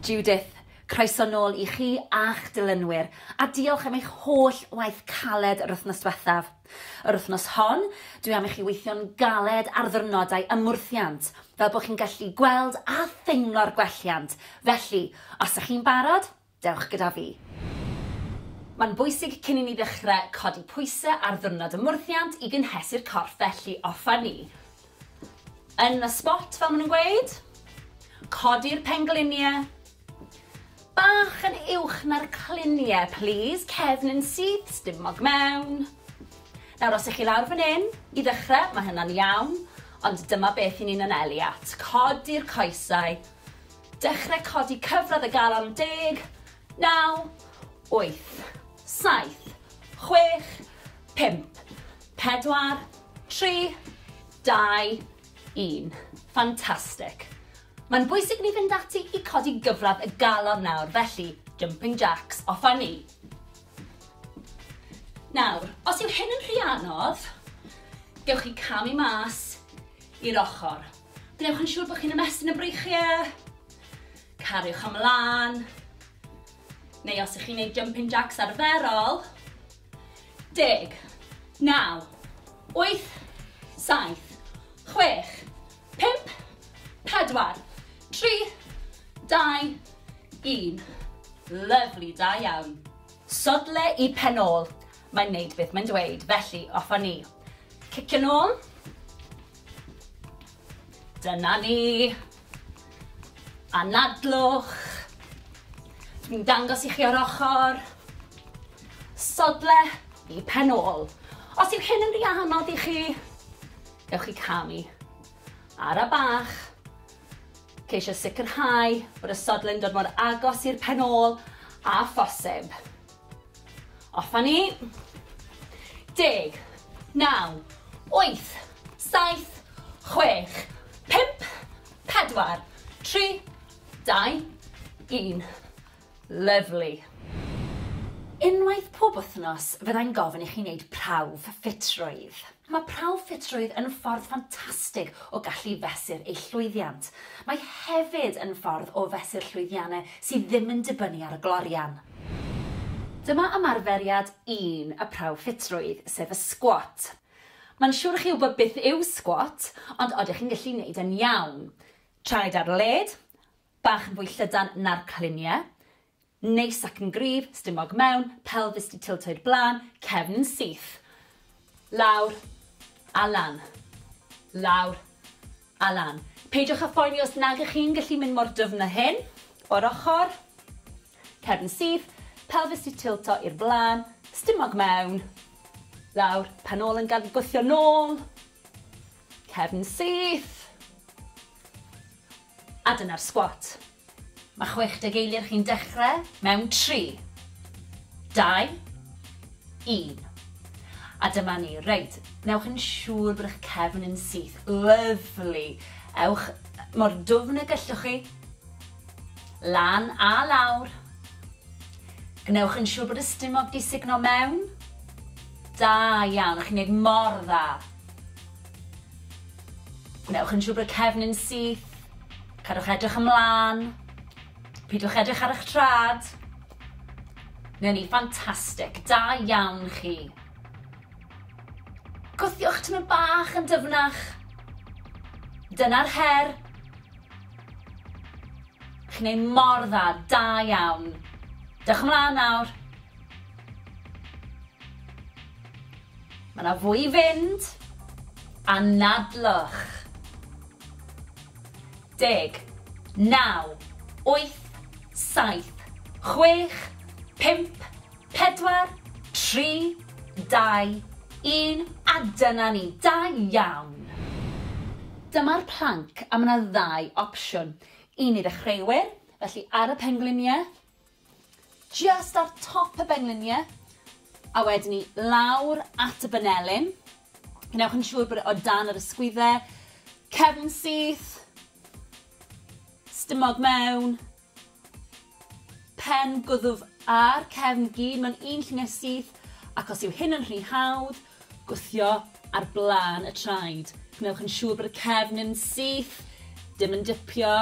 Judith, croeso nôl i chi a'ch dilynwyr, a diolch am eich holl waith caled yr wythnos diwethaf. Yr wythnos hon, dwi am i chi weithio'n galed ar ddyrnodau ymwrthiant, fel bod chi'n gallu gweld a theimlo'r gwelliant, felly, os ych chi'n barod, Dewch gyda fi. Mae'n bwysig cyn i ni ddechrau codi pwysau ar ddiwrnod ymwrthiant i gynhesu'r corff felly offer ni yn y spot fel maen nhw'n gweud. Codi'r pengliniau bach yn uwch na'r cliniau please, cefn yn syth, stumog mewn. Nawr os ych chi lawr fan hyn i ddechrau mae hynna'n iawn ond dyma beth i ni'n anelu at. Codi'r coesau Dechrau codi cyfradd y galon deg, naw, wyth, saith, chwech, pump, pedwar, tri, dau, un. Fantastic. Mae'n bwysig ni fynd ati i codi gyfradd y galon nawr, felly jumping jacks, off a ni. Nawr, os yw hyn yn rhy anodd, gewch chi camu mas i'r ochr. Gwnewch yn siŵr bod chi'n ymestyn y breichiau. Cariwch ymlaen. Neu os ych chi'n gwneud jumping jacks arferol. Deg, naw, wyth, saith, chwech, pimp, pedwar, tri, dau, un. Lyflu, da iawn. Sodle i pen ôl. Mae'n wneud beth mae'n dweud, felly off â ni. Cicio'n ôl. Dyna ni. Anadlwch. Dwi'n dangos i chi o'r ochr. Sodle i pen ôl. Os yw hyn yn rhy anodd i chi, ewch i camu. Ara bach. Ceisio sicrhau bod y sodle'n dod mor agos i'r pen ôl a phosib. Off a ni. Deg. Naw. Wyth. Saith. Chwech. Pump. Pedwar. Tri. Dau. Un. Lyfli. Unwaith pob wythnos fyddai'n gofyn i chi wneud prawf ffitrwydd. Mae prawf ffitrwydd yn ffordd ffantastig o gallu fesur eich llwyddiant. Mae hefyd yn ffordd o fesur llwyddiannau sydd ddim yn dibynnu ar y glorian. Dyma ymarferiad un y prawf ffitrwydd, sef y sgwat. Mae'n siwr i chi wybod beth yw sgwat, ond odych chi'n gallu neud e'n iawn? Traed ar led, bach yn fwy llydan na'r cliniau, Neis ac yn gryf, stumog mewn, pelfis 'di tiltio i'r blaen, cefn yn syth. Lawr a lan. Lawr a lan. Peidiwch â phoeni os nag ych chi'n gallu mynd mor dyfn â hyn. O'r ochr. Cefn yn syth, pelfis 'di tiltio i'r blaen, stumog mewn. Lawr, pen ôl yn gad gwthio nôl. Cefn syth. A dyna'r sgwat. Mae 60 eiliad chi'n dechrau mewn 3, 2, 1. A dyma ni. Reit, newch yn siŵr bod eich cefn yn syth. Lyfli. Ewch mor dwfn y gellwch chi. Lan a lawr. Gwnewch yn siŵr bod y stumog di signo mewn. Da iawn, chi'n gwneud mor dda. Gwnewch yn siŵr bod cefn yn syth. Cadwch edrych ymlaen. Pidwch edrych ar eich trad. Newn ni, ffantastig. Da iawn chi. Gwthiwch tymor bach yn dyfnach. Dyna'r her. Chi'n ei mor dda, da iawn. Dewch ymlaen nawr. Mae 'na fwy i fynd. Anadlwch. Deg. Naw. Wyth. Saith. Chwech. Pump. Pedwar. Tri. Dau. Un. A dyna ni. Da iawn! Dyma'r planc a mae 'na ddau opsiwn. Un i ddechreuwyr, felly ar y pengliniau, Jyst ar top y bengliniau a wedyn ni lawr at y banelin. Gwnewch yn siŵr bod e o dan yr ysgwydde, cefn syth, stumog mewn, pen gwddf a'r cefn gyd mewn un lluniau syth ac os yw hyn yn rhy hawdd, Gwthio ar blaen y traed. Gwnewch yn siŵr bod y cefn yn syth, dim yn dipio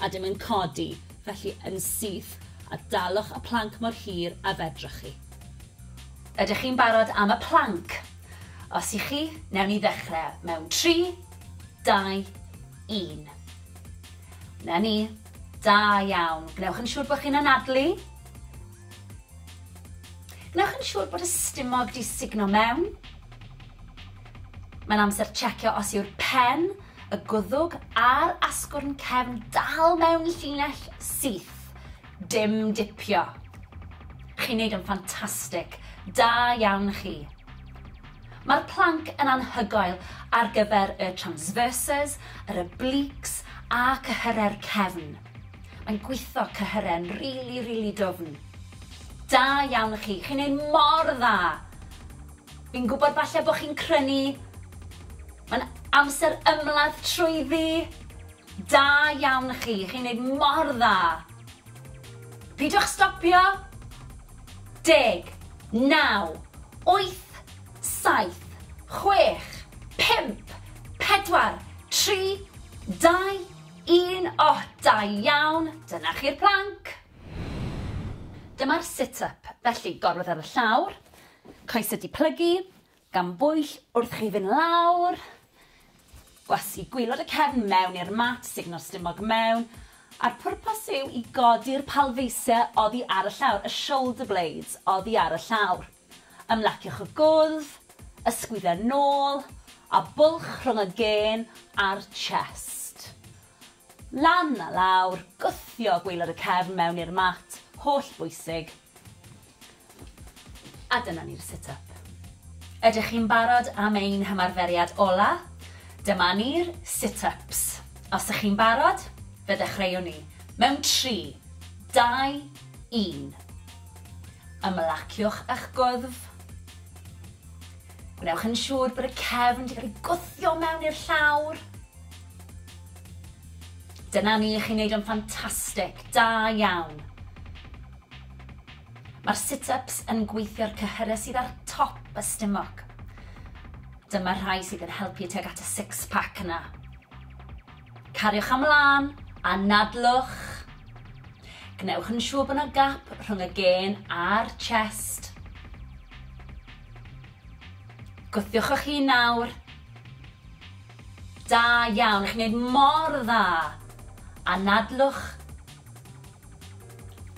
a dim yn codi, felly yn syth, a dalwch y planc mor hir a fedrwch chi. Ydych chi'n barod am y planc? Os y'ch chi, newn ni ddechrau mewn tri, dau, un. 'Na ni. Da iawn. Gwnewch yn siŵr bod chi'n anadlu. Gwnewch yn siŵr bod y stumog 'di sugno mewn. Mae'n amser checio os yw'r pen, y gwddwg a'r asgwrn cefn dal mewn llinell syth. Dim dipio. Chi'n neud yn ffantastig. Da iawn chi. Mae'r planc yn anhygoel ar gyfer y transverses, yr obliques a cyhyrau'r cefn. Mae'n gwitho cyhyren rili rili dwfn. Da iawn i chi, chi'n neud mor dda! Fi'n gwybod falle bod chi'n crynu, mae'n amser ymladd trwyddi! Da iawn i chi, chi'n neud mor dda! Pidwch stopio! Deg, naw, wyth, saith, chwech, pump, pedwar, tri, dau, Un ohh da iawn! Dyna chi'r plank! Dyma'r sit up, felly gorwedd ar y llawr, coesau di plygu, gan bwyll wrth chi fynd lawr, gwasgu gwylod y cefn mewn i'r mat, sugno'r stumog mewn, a'r pwrpas yw i godi'r palfeisiau oddi ar y llawr, y shoulder blades oddi ar y llawr. Ymlaciwch y gwddf, ysgwydde'r nôl a bwlch rhwng y gên a'r chest. Lan a lawr, gwthio gwaelod y cefn mewn i'r mat, holl bwysig. A dyna ni'r sit up. Ydych chi'n barod am ein hymarferiad ola? Dyma ni'r sit ups. Os ych chi'n barod, fe ddechreuwn ni. Mewn tri, dau, un. Ymlaciwch â'ch gwddf. Gwnewch yn siŵr bod y cefn wedi cael ei gwthio mewn i'r llawr. Dyna ni, chi'n neud o'n ffantastig, da iawn. Mae'r sit-ups yn gweithio'r cyhyrau sydd ar top y stumog. Dyma'r rhai sydd yn helpu tuag at y six-pack yna. Cariwch ymlaen, anadlwch. Gwnewch yn siŵr bod yna gap rhwng y gên a'r chest. Gwthiwch o'ch hun nawr. Da iawn, chi'n gwneud mor dda. Anadlwch.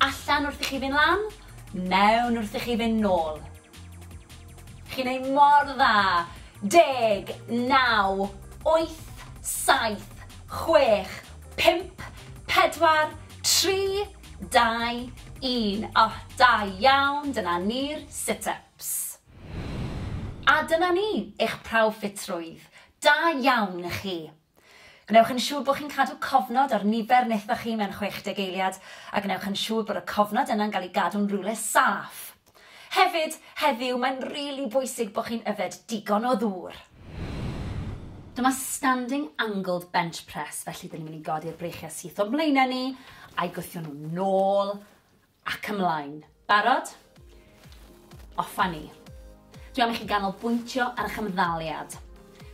Allan wrth i chi fynd lan, mewn wrth i chi fynd nôl. Chi'n neud mor dda! Deg, naw, wyth, saith, chwech, pump, pedwar, tri, dau, un. O, da iawn, dyna ni'r sit-ups. A dyna ni, eich prawf ffitrwydd. Da iawn i chi. Gwnewch yn siŵr bod chi'n cadw cofnod ar nifer wnaethoch chi mewn 60 eiliad, a gwnewch yn siŵr bod y cofnod yna'n cael ei gadw'n rywle saff. Hefyd, heddiw, mae'n rili bwysig bod chi'n yfed digon o ddŵr. Dyma standing angled bench press, felly 'dyn ni'n mynd i godi'r breichiau syth o'n mlaenau ni, a'i gwthio nhw'n ôl, Ac ymlaen. Barod? Off a ni. Dwi am i chi ganolbwyntio ar eich ymddaliad.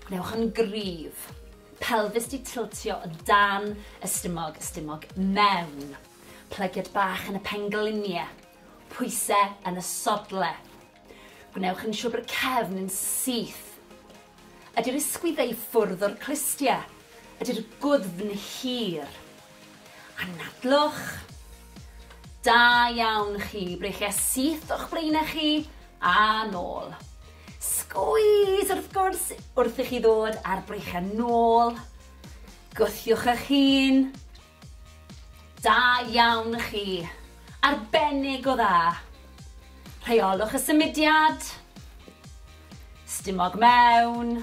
Gwnewch yn gryf. Pelfis di tiltio o dan y stumog, y stumog mewn. Plygiad bach yn y penglinie. Pwyse yn y sodle. Gwnewch yn siwr bod y cefn yn syth. Ydy'r ysgwyddau i ffwrdd o'r clustia? Ydy'r gwddfn hir? Anadlwch. Da iawn chi, breichia syth o'ch blaenau chi a nôl. Sgwys wrth gwrs wrth i chi ddod a'r breichiau nôl. Gwthiwch eich hun. Da iawn chi. Arbennig o dda. Rheolwch y symudiad. Stumog mewn.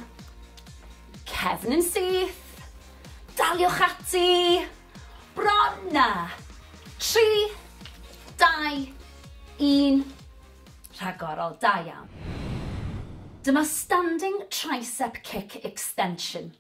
Cefn yn syth. Daliwch ati. Bron na. 3, 2, 1. Rhagorol, da iawn. Dyma standing tricep kick extension.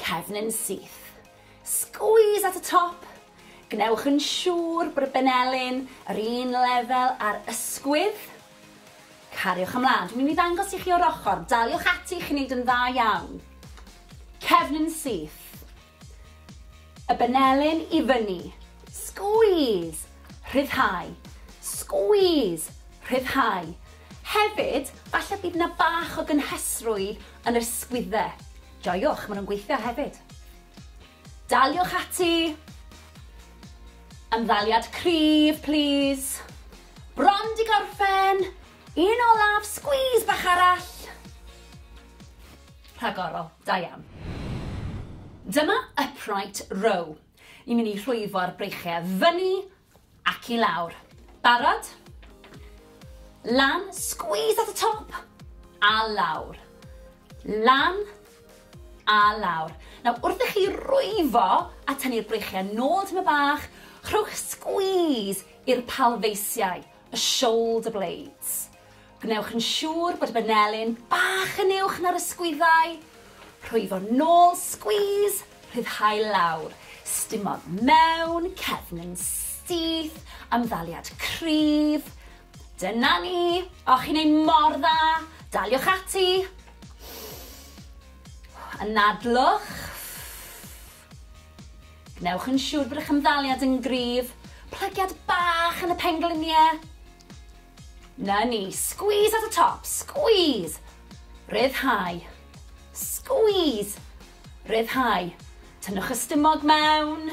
Cefn yn syth. Squeeze at y top. Gwnewch yn siŵr bod y benelin yr un lefel â'r ysgwydd. Cariwch ymlaen. Dwi'n mynd i ddangos i chi o'r ochr. Daliwch ati, chi'n neud yn dda iawn. Cefn yn syth. Y benelin i fyny. Squeeze. Rhyddhau. Squeeze. Rhyddhau. Hefyd, falle bydd yna bach o gynhesrwydd Yn yr sgwydde. Joiwch, maen nhw'n gweithio hefyd. Daliwch ati! Ymddaliad cryf, plis. Bron di gorffen! Un olaf, squeeze bach arall! Rhagorol, da iawn. Dyma upright row. Ni'n mynd i rhwyfo'r breichiau fyny Ac i lawr. Barod? Lan, squeeze at y top, a lawr. Lan, a lawr. Nawr, wrth i chi rwyfo a tynnu'r breichiau nôl tyma bach, rhowch squeeze i'r palfeisiau. y shoulder blades. Gwnewch yn siŵr bod y banelin bach yn uwch na'r ysgwyddau. Rhwyfo nôl, squeeze, rhyddhau lawr. Stimodd mewn, cefn yn syth, amddaliad cryf. Dyna ni! Och, chi'n ei mor dda! Daliwch ati! Anadlwch. Gwnewch yn siŵr bod eich ymddaliad yn gryf. Plygiad bach yn y pengliniau. Na ni, squeeze at y top, squeeze! Rhyddhau. Squeeze! Rhyddhau. Tynnwch y stumog mewn.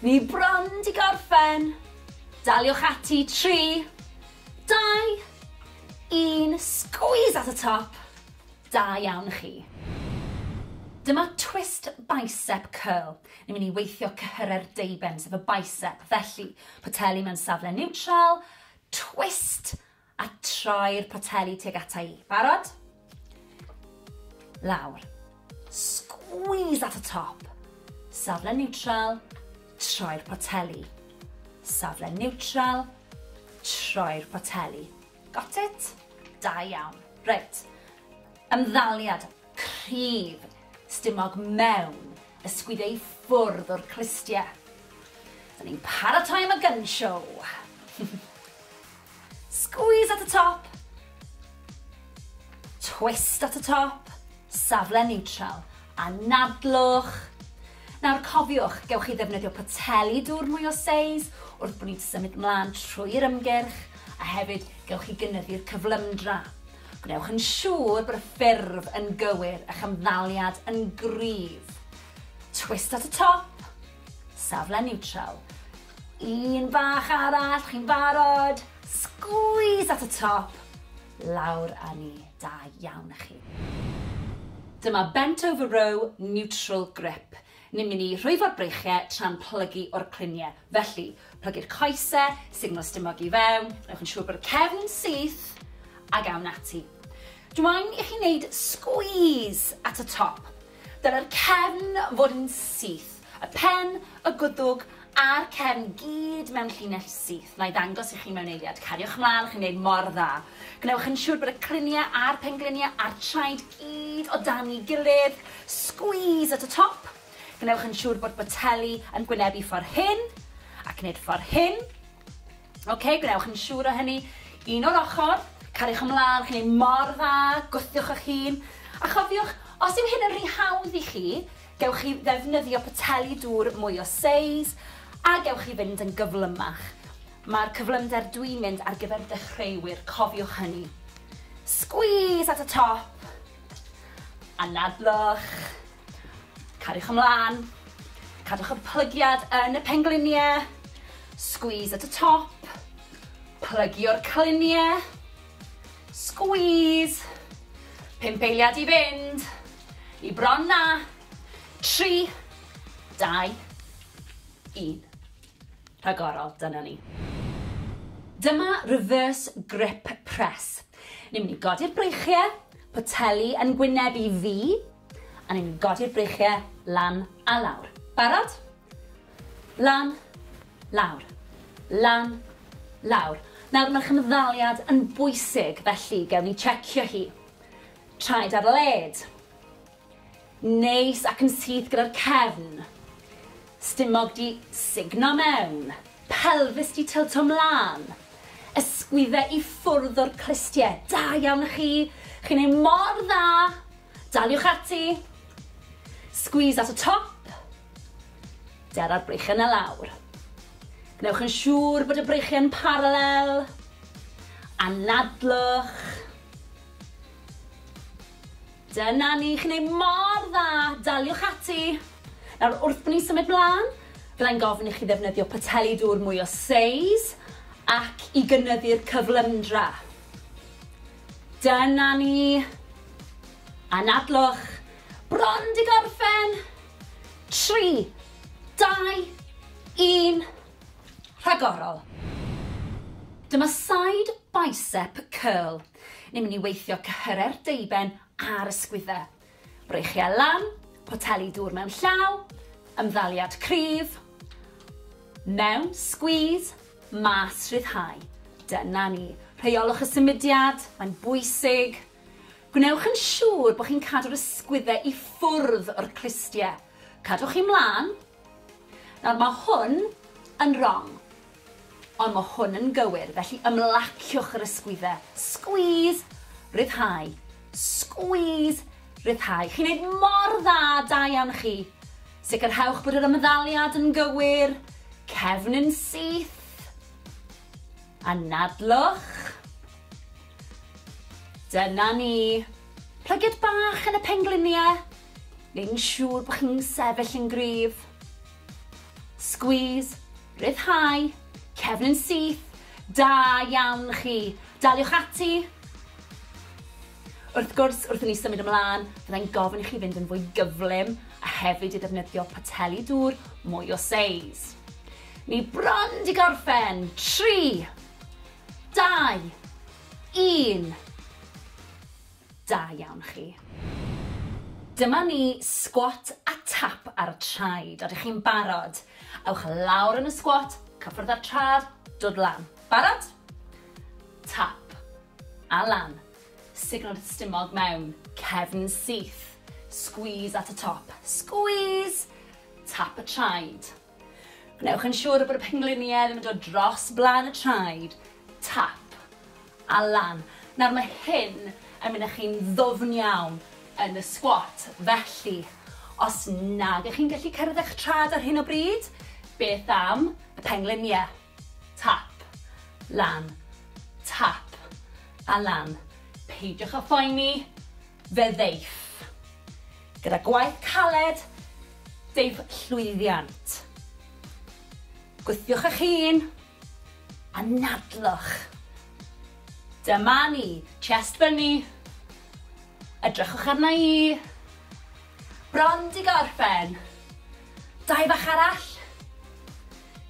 Ni bron di gorffen. Daliwch ati, 3, 2, un, squeeze at y top. Da iawn chi. Dyma twist bicep curl. Ni'n mynd i weithio cyhyrau'r deuben, sef y bicep. Felly, poteli mewn safle niwtral, twist, a troi'r poteli tuag ata i. Barod? Lawr. Squeeze at y top. Safle niwtral, troi'r poteli. Safle niwtral, troi'r poteli. Got it? Da iawn. Reit. Ymddaliad cryf stumog mewn ysgwyd ei ffwrdd o'r clustie. Dyn ni'n paratoi am y gun show. Squeeze at y top. Twist at y top. Safle neutral. Anadlwch. Nawr cofiwch, gewch chi ddefnyddio poteli dŵr mwy o seis wrth bod ni'n symud mlaen trwy'r ymgyrch, a hefyd gewch chi gynyddu'r cyflymdra. Gwnewch yn siŵr bod y ffurf yn gywir a'ch ymddaliad yn gryf. Twist at y top, safle niwtral. Un bach arall, chi'n barod? Sgwîs at y top, lawr â ni. Da iawn a chi. Dyma bent over row neutral grip. Ni'n mynd i rhwyfo'r breichie tra'n plygu o'r clunie. Felly, plygu'r coese, signal stumog i fewn, newch yn siŵr bod y cefn yn syth, ag awn ati. Dw i'n i chi wneud squeeze at y top. Dylai'r cefn fod yn syth, y pen, y gwddwg a'r cefn gyd mewn llinell syth. Na'i ddangos i chi mewn eiliad. Cariwch mlaen, chi'n gwneud mor dda. Gwnewch yn siŵr bod y cryniau a'r pengliniau a'r traed gyd o dan'i gilydd. Squeeze at y top. Gwnewch yn siŵr bod boteli yn gwynebu ffordd hyn, ac wneud ffordd hyn. Ok, gwnewch yn siŵr o hynny. Un o'r ochr, cariwch ymlaen, chi'n ei mor dda, gwthiwch eich hun. A chofiwch, os yw hyn yn rhy hawdd i chi, gewch chi ddefnyddio poteli dŵr mwy o seis, a gewch chi fynd yn gyflymach. Mae'r cyflymder dwi'n mynd ar gyfer dechreuwyr, cofiwch hynny. Squeeze at y top, anadlwch. Cariwch ymlaen. Cadwch y plygiad yn y pengliniau. Squeeze at y top. Plygio'r cliniau. Squeeze. Pump eiliad i fynd. I bron na. Tri. Dau. Un. Rhagorol, dyna ni. Dyma reverse grip press. Ni'n mynd i godi'r breichiau, poteli yn gwyneb i fi, A ni'n godi'r breichiau lan a lawr. Barod? Lan, lawr. Lan, lawr. Nawr mae'r chymddaliad yn bwysig felly gewn ni checio hi. Traed ar led. Neis ac yn syth gyda'r cefn. Stumog 'di sugno mewn. Pelfis 'di tylto 'mlan. Ysgwydde i ffwrdd o'r clustie. Da iawn i chi! Chi'n neud mor dda! Daliwch ati! Squeeze at y top. Dera'r breichiau 'na lawr. Gwnewch yn siŵr bod y breichiau'n paralel. Anadlwch. Dyna ni, chi'n neud mor dda, daliwch ati! Nawr, wrth ni symud mlan, fyddai'n gofyn i chi ddefnyddio poteli dŵr mwy o seis ac i gynyddu'r cyflymdra. Dyna ni! Anadlwch! Bron 'di gorffen! Tri, dau, un, rhagorol! Dyma side bicep curl. Ni'n mynd i weithio cyhyrer deuben a'r ysgwyddau. Breichiau lan, poteli dŵr mewn llaw, ymddaliad cryf, mewn, squeeze, mas, rhyddhau. Dyna ni. Rheolwch y symudiad, mae'n bwysig. Gwnewch yn siŵr bod chi'n cadw'r ysgwyddau i ffwrdd o'r clustiau. Cadwch chi mlaen, Nawr, mae hwn yn rong, ond mae hwn yn gywir, felly ymlaciwch yr ysgwyddau. Squeeze, rhyddhau, squeeze, rhyddhau. Chi'n neud mor dda, da iawn chi. Sicrhewch bod yr ymddaliad yn gywir, cefn yn syth, anadlwch. Dyna ni. Plygiad bach yn y pengliniau. neu'n siŵr bod chi'n sefyll yn gryf. Squeeze, rhyddhau, cefn yn syth, da iawn chi. Daliwch ati. Wrth gwrs, wrth i ni symud ymlaen, fyddai'n gofyn i chi fynd yn fwy gyflym a hefyd i ddefnyddio poteli dŵr mwy o seis. Ni bron di gorffen. 3, 2, 1. Da iawn chi. Dyma ni, sgwat a tap ar y traed. Odych chi'n barod? Ewch lawr yn y sgwat, cyffwrdd â'r trad, dod lan. Barod? Tap. A lan. Signo'r stumog mewn. Cefn syth. Squeeze at y top. Squeeze! Tap y traed. Gwnewch yn siŵr bod y pengliniau ddim yn dod dros blaen y traed, tap, a lan. Nawr mae hyn yn mynd â chi'n ddwfn iawn yn y sgwat, felly os nag ych chi'n gallu cyrraedd eich traed ar hyn o bryd, beth am y pengliniau? Tap. Lan. Tap. A lan. Peidiwch â phoeni, fe ddeiff. Gyda gwaith caled, deiff llwyddiant. Gwthiwch eich hun. Anadlwch. Dyma ni. Chest fyny. Edrychwch arna i. Bron di gorffen. Dau bach arall.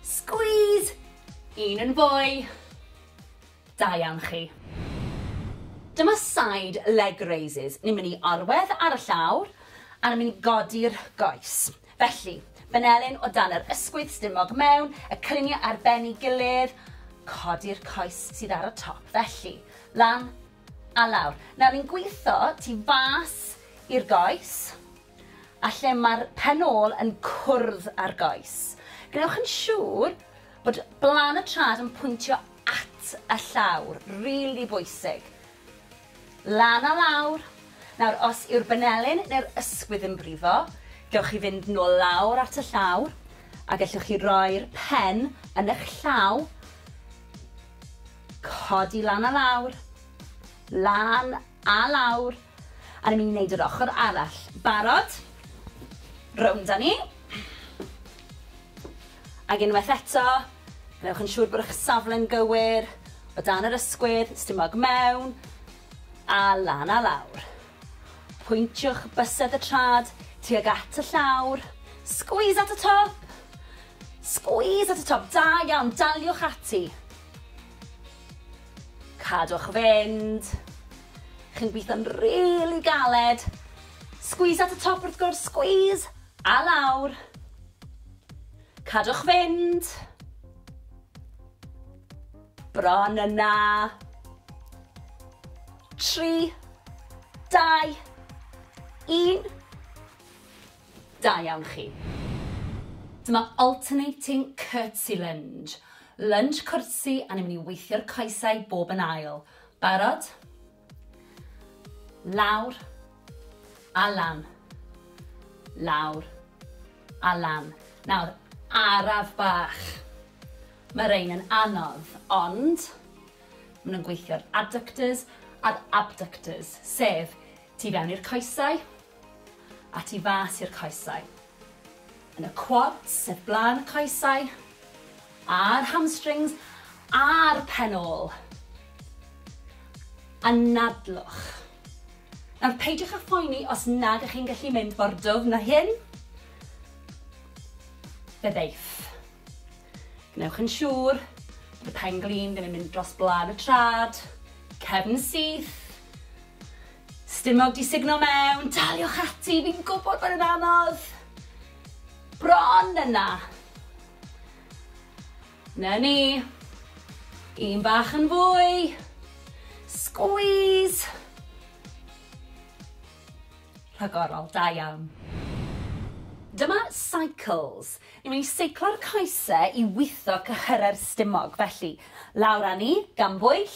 Squeeze! Un yn fwy. Da iawn chi. Dyma side leg raises. Ni'n mynd i orwedd ar y llawr a ni'n mynd i godi'r goes. Felly, fanelyn o dan yr ysgwydd, stumog mewn, y cyniau ar ben ei gilydd, codi'r coes sydd ar y top. Felly, lan, A lawr. Nawr ni'n gwitho tu fas i'r goes a lle mae'r pen ôl yn cwrdd â'r goes. Gwnewch yn siŵr bod blaen y trad yn pwyntio at y llawr, rili bwysig. Lan a lawr. Nawr, os yw'r benelin neu'r ysgwydd yn brifo, gewch chi fynd nôl lawr at y llawr a gellwch chi roi'r pen yn eich llaw Codi lan a lawr. Lan a lawr. A ni'n mynd i wneud yr ochr arall. Barod? Rownd â ni. Ac unwaith eto, gwnewch yn siŵr bod eich safle'n gywir, o dan yr ysgwydd, stumog mewn, a lan a lawr. Pwyntiwch bysedd y trad tuag at y llawr. Squeeze at y top! Squeeze at y top, da iawn, daliwch ati. Cadwch fynd. Chi'n gweithio'n rili galed. Squeeze at y top wrth gwrs, squeeze! A lawr. Cadwch fynd. Bron yna. Tri, dau, un. Da iawn chi. Dyma alternating curtsy lunge. Lunch cwrtsi a ni'n mynd i weithio'r coesau bob yn ail. Barod? Lawr. A lan. Lawr. A lan. Nawr, araf bach. Mae rhain yn anodd, ond maen nhw'n gweithio'r adductors a'r abductors, sef Tu fewn i'r coesau, a tu fas i'r coesau. Yn y quads, sef blaen y coesau, a'r hamstrings, a'r pen ôl. Anadlwch. Nawr, peidiwch â phoeni os nad ych chi'n gallu mynd mor dwfn â hyn. Fe ddeith. Gwnewch yn siŵr bod y pen glin ddim yn mynd dros blân y trad, cefn syth, stumog di sugno mewn, daliwch ati, fi'n gwybod bod yn anodd. Bron yna. Na ni. Un bach yn fwy. Squeeze. Rhagorol, da iawn. Dyma cycles. Ni wn i seiclo'r coese i witho cyhyrau'r stumog, felly, lawr â ni, gan bwyll.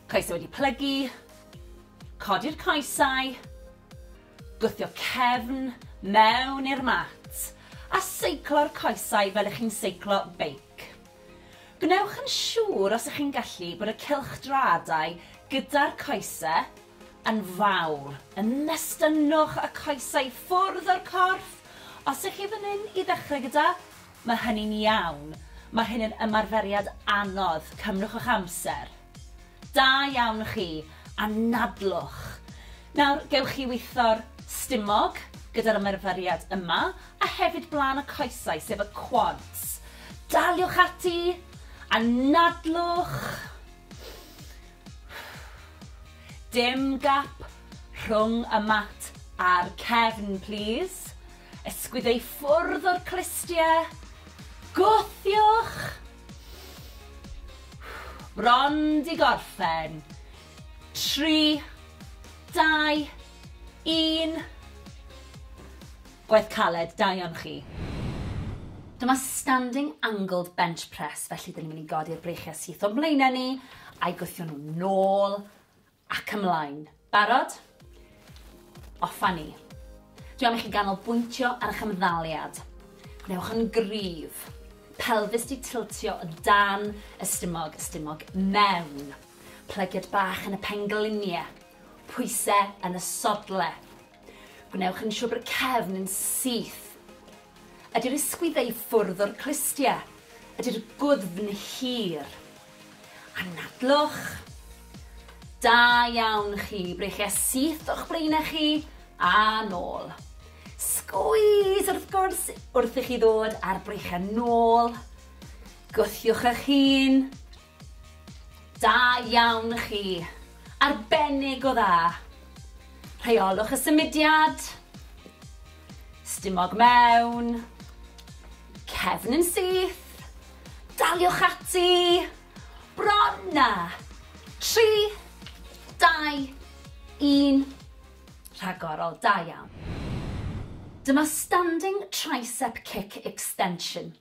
Coesau wedi plygu. Codi'r coesau. Gwthio cefn mewn i'r mat. A seiclo'r coesau fel ych chi'n seiclo beic. Gwnewch yn siŵr, os ych chi'n gallu, bod y cylchdraadau gyda'r coese yn fawr, yn nestynnwch y coesau i ffwrdd o'r corff, os ych chi fan hyn i ddechrau gyda, mae hynny'n iawn, mae hyn yn ymarferiad anodd, cymrwch eich amser. Da iawn chi, anadlwch. Nawr, gewch chi weithio'r stumog gyda'r ymarferiad yma, a hefyd blaen y coesau, sef y quads. Daliwch ati, anadlwch. Dim gap rhwng y mat a'r cefn plîs. Ysgwyd ei ffwrdd o'r clustie. Gwthiwch! Bron 'di gorffen. Tri, dau, un. Gwaith caled, da iawn chi. Dyma standing angled bench press felly 'dyn ni'n mynd i godi'r breichiau syth o'n mlaenau ni. A'i gwthio nhw nôl ac ymlaen. Barod? Off a ni. Dwi am i chi ganolbwyntio ar eich ymddaliad. Gwnewch yn gryf. Pelfis di tiltio o dan y stumog, y stumog mewn. Plygiad bach yn y penglinie. Pwyse yn y sodle. Gwnewch yn siwr bod y cefn yn syth. Ydy'r ysgwyddau i ffwrdd o'r clustiau. Ydy'r gwddfn hir. Anadlwch. Da iawn chi. Breichia syth o'ch blaenau chi a nôl. Sgwys wrth gwrs wrth i chi ddod a'r breichiau nôl. Gwthiwch eich hun. Da iawn chi! Arbennig o dda! Rheolwch y symudiad. Stumog mewn. Cefn yn syth. Daliwch ati. Bron na! 3, 2, 1. Rhagorol, da iawn. Dyma Standing Tricep Kick Extension.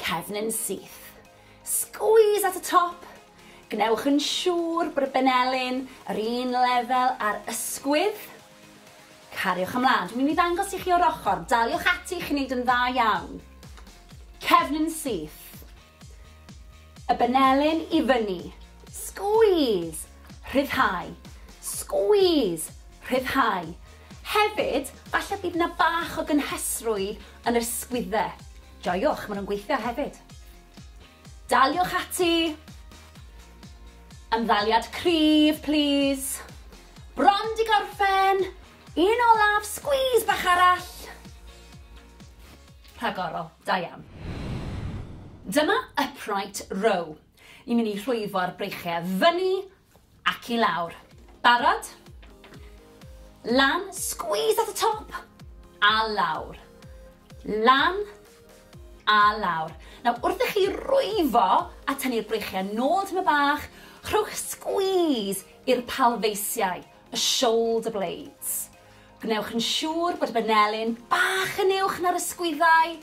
Cefn yn syth. Squeeze at y top. Gwnewch yn siŵr bod y benelin yr un lefel â'r ysgwydd. Cariwch ymlaen. Dwi'n mynd i ddangos i chi o'r ochr. Daliwch ati, chi'n neud yn dda iawn. Cefn yn syth. Y benelin i fyny. Squeeze. Rhyddhau. Squeeze. Rhyddhau. Hefyd, falle bydd yna bach o gynhesrwydd Yn yr ysgwydde. Joiwch, maen nhw'n gweithio hefyd. Daliwch ati! Ymddaliad cryf, plis. Bron di gorffen! Un olaf, squeeze bach arall! Rhagorol, da iawn. Dyma upright row. Ni'n mynd i rhwyfo'r breichiau fyny Ac i lawr. Barod? Lan, squeeze at y top, a lawr. Lan, a lawr. Nawr, wrth i chi rwyfo a tynnu'r breichiau nôl tyma bach, rhowch squeeze i'r palfeisiau. y shoulder blades. Gwnewch yn siŵr bod y banelin bach yn uwch na'r ysgwyddau.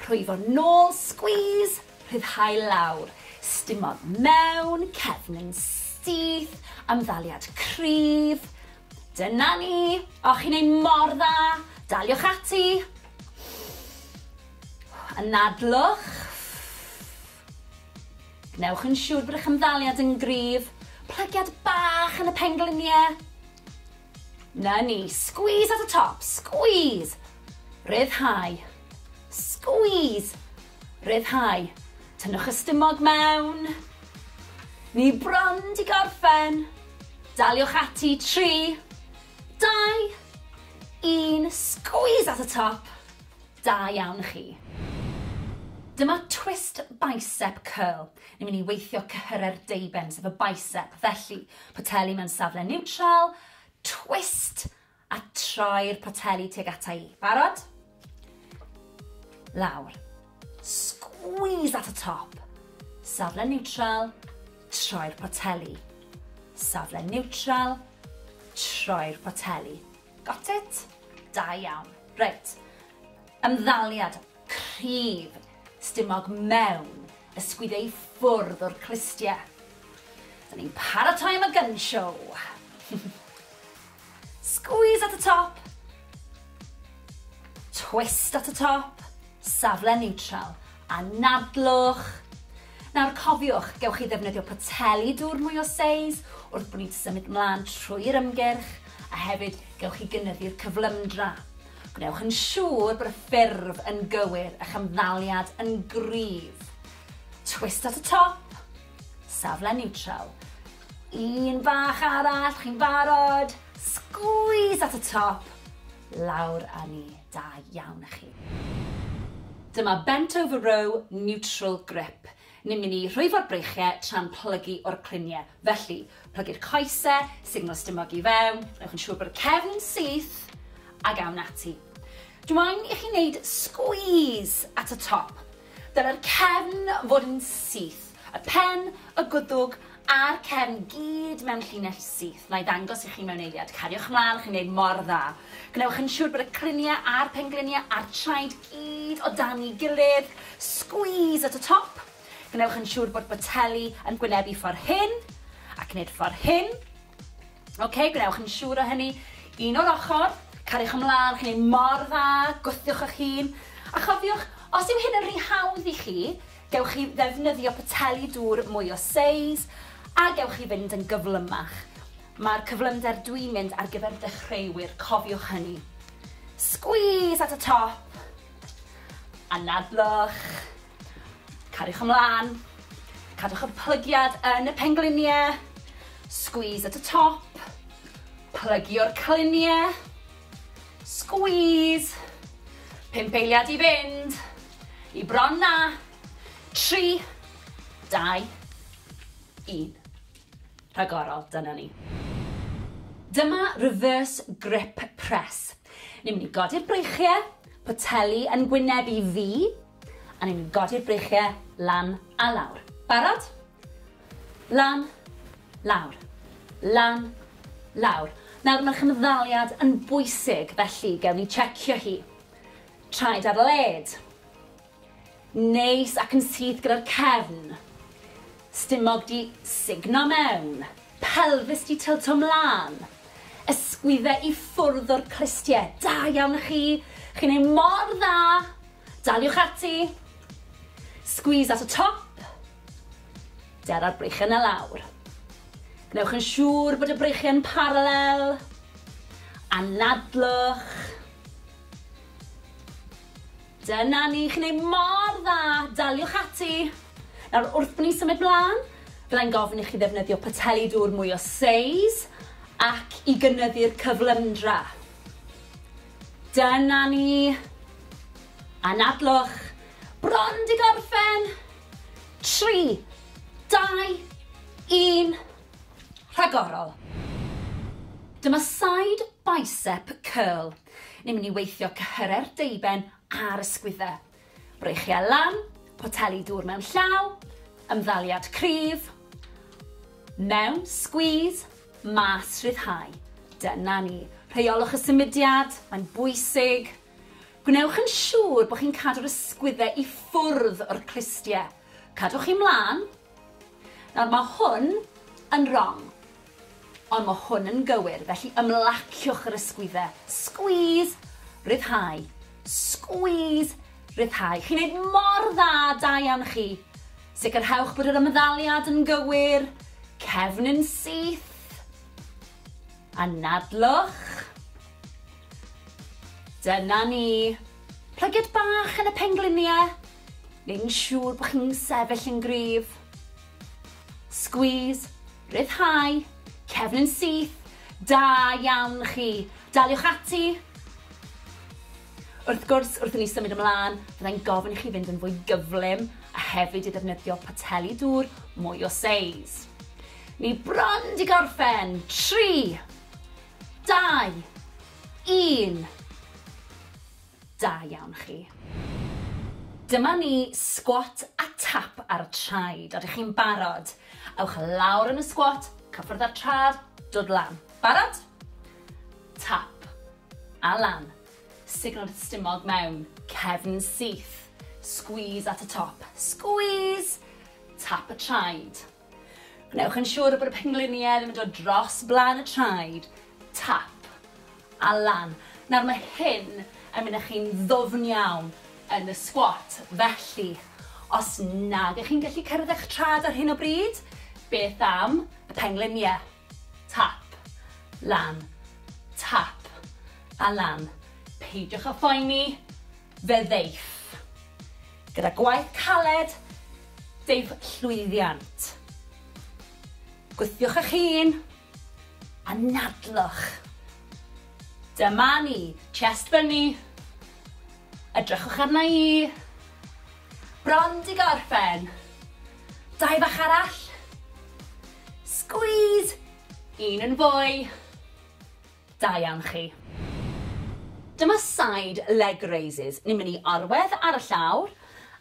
Rhwyfo nôl, squeeze, rhyddhau lawr. Stimodd mewn, cefn yn syth, amddaliad cryf. Dyna ni! O, chi'n ei mor dda! Daliwch ati! Anadlwch. Gwnewch yn siŵr bod eich ymddaliad yn gryf. Plagiad bach yn y pengliniau. Na ni. Squeeze at y top. Squeeze. Rhyddhau. Squeeze. Rhyddhau. Tynnwch y stumog mewn. Ni bron di gorffen. Daliwch ati. 3, 2, 1. Squeeze at y top. Da iawn chi. Dyma twist bicep curl. Ni'n mynd i weithio cyhyrau'r deuben, sef y bicep. Felly, poteli mewn safle niwtral, twist, a troi'r poteli tuag ata i. Barod? Lawr. Squeeze at y top. Safle niwtral, troi'r poteli. Safle niwtral, troi'r poteli. Got it? Da iawn. Reit. Ymddaliad cryf stumog mewn ysgwyd ei ffwrdd o'r clustie. Da ni'n paratoi am y gun show. Squeeze at y top. Twist at y top. Safle neutral. Anadlwch. Nawr cofiwch, gewch chi ddefnyddio poteli dŵr mwy o seis wrth bo ni'n symud mlan trwy'r ymgyrch, a hefyd gewch chi gynyddu'r cyflymdra. Gwnewch yn siŵr bod y ffurf yn gywir, a'ch ymddaliad yn gryf. Twist at y top, safle niwtral. Un bach arall, chi'n barod? Sgwîs at y top, lawr â ni. Da iawn a chi. Dyma bent over row neutral grip. Ni'n mynd i rhwyfo'r breichie tra'n plygu o'r clunie. Felly, plygu'r coese, signal stumog i fewn, newch yn siŵr bod y cefn yn syth, ag awn ati. Dw i'n i chi wneud squeeze at y top. Dylai'r cefn fod yn syth, y pen, y gwddwg a'r cefn gyd mewn llinell syth. Na'i ddangos i chi mewn eiliad. Cariwch mlaen, chi'n gwneud mor dda. Gwnewch yn siŵr bod y cryniau a'r pengliniau a'r traed gyd o dan'i gilydd. Squeeze at y top. Gwnewch yn siŵr bod boteli yn gwynebu ffordd hyn, ac nid ffordd hyn. Ok, gwnewch yn siŵr o hynny. Un o'r ochr, cariwch ymlaen, chi'n ei mor dda, gwthiwch eich hun. A chofiwch, os yw hyn yn rhy hawdd i chi, gewch chi ddefnyddio poteli dŵr mwy o seis, a gewch chi fynd yn gyflymach. Mae'r cyflymder dwi'n mynd ar gyfer dechreuwyr, cofiwch hynny. Squeeze at y top, anadlwch. Cariwch ymlaen. Cadwch y plygiad yn y pengliniau. Squeeze at y top. Plygio'r cliniau. Squeeze. Pump eiliad i fynd. I bron na. Tri. Dau. Un. Rhagorol, dyna ni. Dyma reverse grip press. Ni'n mynd i godi'r breichiau, poteli yn gwyneb i fi, A ni'n godi'r breichiau lan a lawr. Barod? Lan, lawr. Lan, lawr. Nawr mae'r chymddaliad yn bwysig felly gewn ni checio hi. Traed ar led. Neis ac yn syth gyda'r cefn. Stumog 'di sugno mewn. Pelfis 'di tylto 'mlan. Ysgwydde i ffwrdd o'r clustie. Da iawn i chi! Chi'n neud mor dda! Daliwch ati! Squeeze at y top. Dera'r breichiau 'na lawr. Gwnewch yn siŵr bod y breichiau'n paralel. Anadlwch. Dyna ni, chi'n neud mor dda! Daliwch ati! Nawr, wrth ni symud mlan, fyddai'n gofyn i chi ddefnyddio poteli dŵr mwy o seis ac i gynyddu'r cyflymdra. Dyna ni! Anadlwch! Bron 'di gorffen! Tri, dau, un, rhagorol! Dyma side bicep curl. Ni'n mynd i weithio cyhyrer deuben a'r ysgwyddau. Breichiau lan, poteli dŵr mewn llaw, ymddaliad cryf, mewn, squeeze, mas, rhyddhau. Dyna ni. Rheolwch y symudiad, mae'n bwysig. Gwnewch yn siŵr bod chi'n cadw'r ysgwyddau i ffwrdd o'r clustiau. Cadwch chi mlaen, Nawr, mae hwn yn rong, ond mae hwn yn gywir, felly ymlaciwch yr ysgwyddau. Squeeze, rhyddhau. Squeeze, rhyddhau. Chi'n neud mor dda, da iawn chi. Sicrhewch bod yr ymddaliad yn gywir, cefn yn syth. Anadlwch. Dyna ni. Plygiad bach yn y pengliniau. neu'n siŵr bod chi'n sefyll yn gryf. Squeeze, rhyddhau, cefn yn syth, da iawn chi. Daliwch ati. Wrth gwrs, wrth i ni symud ymlaen, byddai'n gofyn i chi fynd yn fwy gyflym a hefyd i ddefnyddio poteli dŵr mwy o seis. Ni bron di gorffen. 3, 2, 1. Da iawn chi. Dyma ni, sgwat a tap ar y traed. Odych chi'n barod? Ewch lawr yn y sgwat, cyffwrdd â'r trad, dod lan. Barod? Tap. A lan. Signo'r stumog mewn. Cefn syth. Squeeze at y top. Squeeze! Tap y traed. Gwnewch yn siŵr bod y pengliniau ddim yn dod dros blaen y traed, tap, a lan. Nawr mae hyn yn mynd â chi'n ddwfn iawn yn y sgwat, felly os nag ych chi'n gallu cyrraedd eich traed ar hyn o bryd, beth am y pengliniau? Tap. Lan. Tap. A lan. Peidiwch â phoeni, fe ddeiff. Gyda gwaith caled, deiff llwyddiant. Gwthiwch eich hun, a nadlwch. Dyma ni. Chest fyny. Edrychwch arna i. Bron di gorffen. Dau fach arall. Squeeze! Un yn fwy. Da iawn chi. Dyma side leg raises. Ni'n mynd i orwedd ar y llawr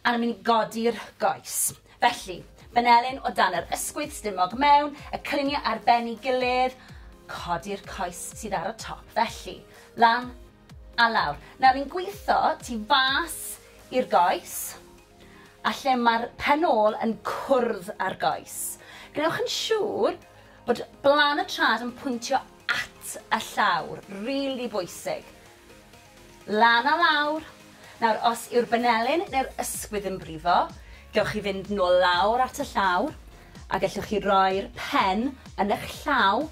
a ni'n mynd i godi'r goes. Felly, Benelin o dan yr ysgwydd, stumog mewn, y cyniau ar ben ei gilydd, codi'r coes sydd ar y top. Felly, lan, A lawr. Nawr ni'n gwitho tu fas i'r goes a lle mae'r pen ôl yn cwrdd â'r goes. Gwnewch yn siŵr bod blaen y trad yn pwyntio at y llawr, rili bwysig. Lan a lawr. Nawr, os yw'r benelin neu'r ysgwydd yn brifo, gewch chi fynd nôl lawr at y llawr a gellwch chi roi'r pen yn eich llaw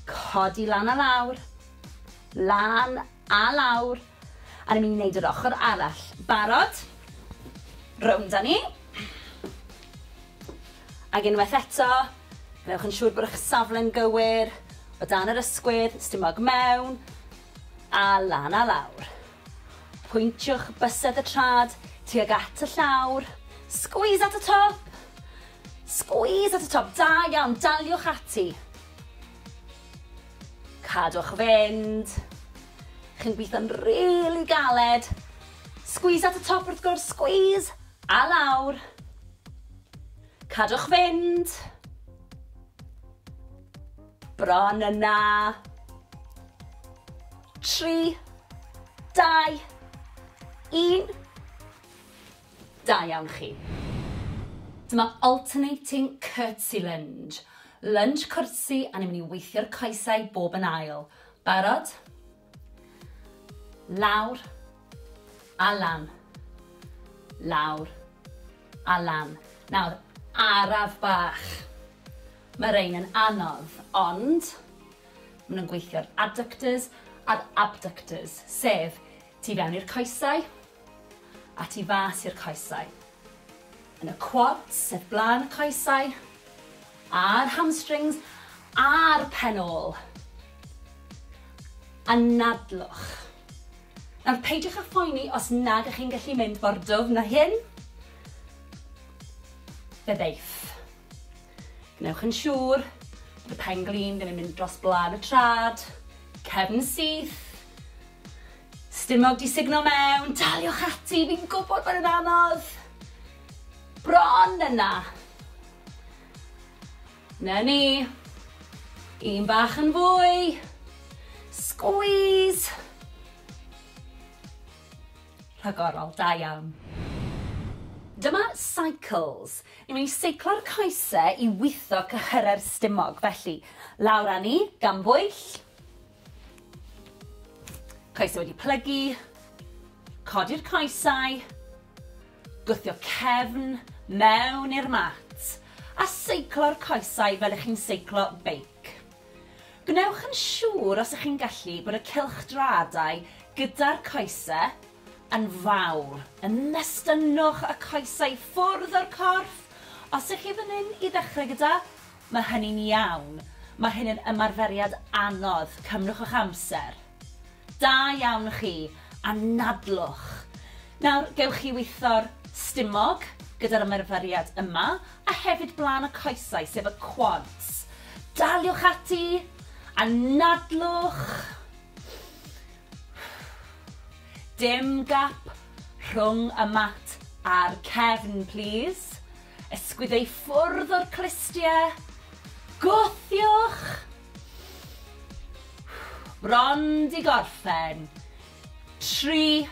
Codi lan a lawr. Lan a lawr. A ni'n mynd i wneud yr ochr arall. Barod? Rownd â ni. Ac unwaith eto, gwnewch yn siŵr bod eich safle'n gywir, o dan yr ysgwydd, stumog mewn, a lan a lawr. Pwyntiwch bysedd y trad tuag at y llawr. Squeeze at y top! Squeeze at y top, da iawn, daliwch ati. Cadwch fynd. Chi'n gweithio'n really galed. Squeeze at y top wrth gwrs, squeeze, a lawr. Cadwch fynd. Bron yna. Tri, dau, un. Da iawn chi. Dyma alternating curtsy lunge. Lunch cwrtsi a ni'n mynd i weithio'r coesau bob yn ail. Barod? Lawr a lan. Lawr a lan. Nawr, araf bach. Mae rhain yn anodd, ond maen nhw'n gweithio'r adductors a'r abductors, sef Tu fewn i'r coesau, a tu fas i'r coesau. Yn y quads, sef blaen y coesau, a'r hamstrings, a'r pen ôl. Anadlwch. Nawr peidiwch â phoeni os nad ych chi'n gallu mynd mor dwfn â hyn. Fe ddeith. Gwnewch yn siŵr bod y pen glin ddim yn mynd dros blân y trad, cefn syth, stumog di sugno mewn, daliwch ati, fi'n gwybod bod yn anodd. Bron yna. Na ni. Un bach yn fwy. Squeeze. Rhagorol, da iawn. Dyma Cycles. Ni'n mynd i seiclo'r coese i witho cyhyrau'r stumog. Felly, lawr â ni, gan bwyll. Coesau wedi plygu. Codi'r coesau. Gwthio cefn mewn i'r mat. A seiclo'r coesau fel ych chi'n seiclo beic. Gwnewch yn siŵr os ych chi'n gallu bod y cylchdraadau gyda'r coese yn fawr, yn mestynnwch y coesau i ffwrdd o'r corff, os ych chi fan hyn i ddechrau gyda, mae hynny'n iawn, mae hyn yn ymarferiad anodd, cymrwch eich amser. Da iawn chi, anadlwch. Nawr, gewch chi witho'r stumog gyda'r ymarferiad yma, a hefyd blaen y coesau, sef y quads. Daliwch ati! Anadlwch! Dim gap rhwng y mat a'r cefn, plis. Ysgwydde i ffwrdd o'r clustiau. Gwthiwch! Bron 'di gorffen. Tri,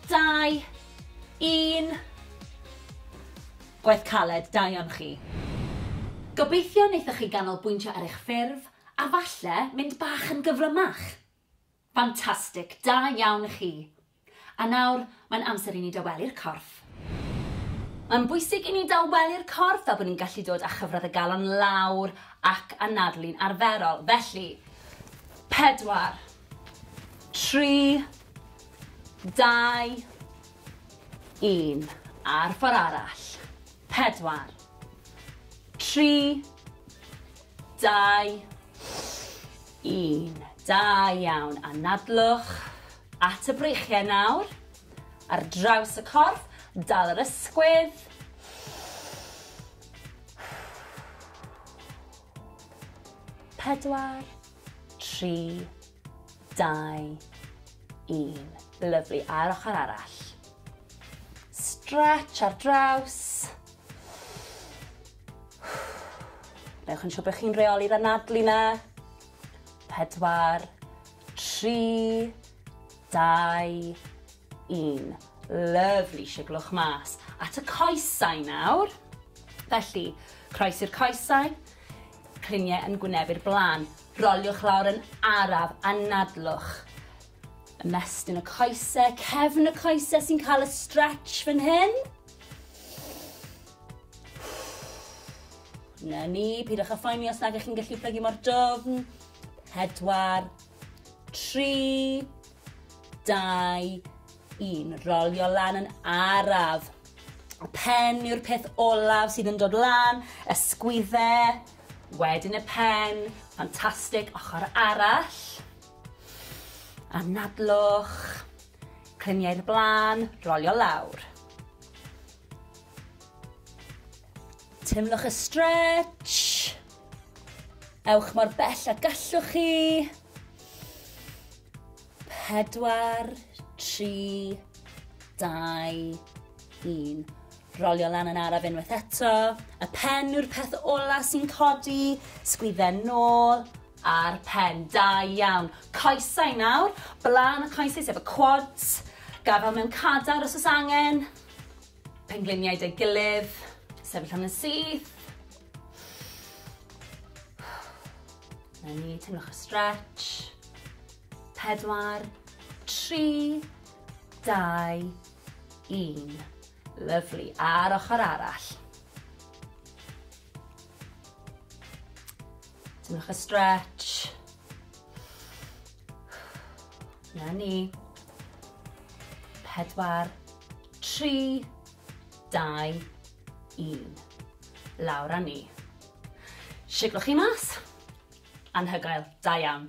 dau, un. Gwaith caled, da iawn chi. Gobeithio wnaethoch chi ganolbwyntio ar eich ffurf a falle mynd bach yn gyflymach. Ffantastig! Da iawn chi! A nawr, mae'n amser i ni dawelu'r corff. Mae'n bwysig i ni dawelu'r corff fel bod ni'n gallu dod â chyfradd y galon lawr ac anadlu'n arferol. Felly, pedwar, tri, dau, un. A'r ffordd arall. Pedwar, tri, Dau, un. Da iawn. Anadlwch at y breichiau nawr. Ar draws y corff, dal yr ysgwydd. Pedwar, tri, dau, un. Lyflu. A'r ochr arall. Stretch ar draws. Newch yn siŵr bod chi'n reoli'r anadlu na. Pedwar, tri, dau, un. Lyfli, siglwch mas. At y coesau nawr. Felly, croes i'r coesau, cliniau yn gwynebu'r blaen. Roliwch lawr yn araf, anadlwch. Ymestyn y coesau, cefn y coesau sy'n cael y stretch fan hyn. Na ni, pidwch â phoeni os nag ych chi'n gallu plygu mor dofn. Pedwar, tri, dau, un. Rolio lan yn araf. Y pen yw'r peth olaf sydd yn dod lan, ysgwydde, wedyn y pen, ffantastig, ochr arall. Anadlwch, cliniau'r blaen, rolio lawr. Teimlwch y stretch. Ewch mor bell a gallwch chi. Pedwar, tri, dau, un. Rolio lan yn araf unwaith eto. Y pen yw'r peth ola sy'n codi. Sgwydden nôl a'r pen. Da iawn. Coesau nawr. Blaen y coesau sef y quads. Gafel mewn cadar os oes angen. Pengliniau 'da'i gilydd. Sefyll am yn syth. Na ni, teimlwch y stretch. Pedwar, tri, dau, un. Lyflu. A'r ochr arall. Teimlwch y stretch. Na ni. Pedwar, tri, dau, un. Lawr a ni. Siglwch chi mas. Anhygoel. Da iawn.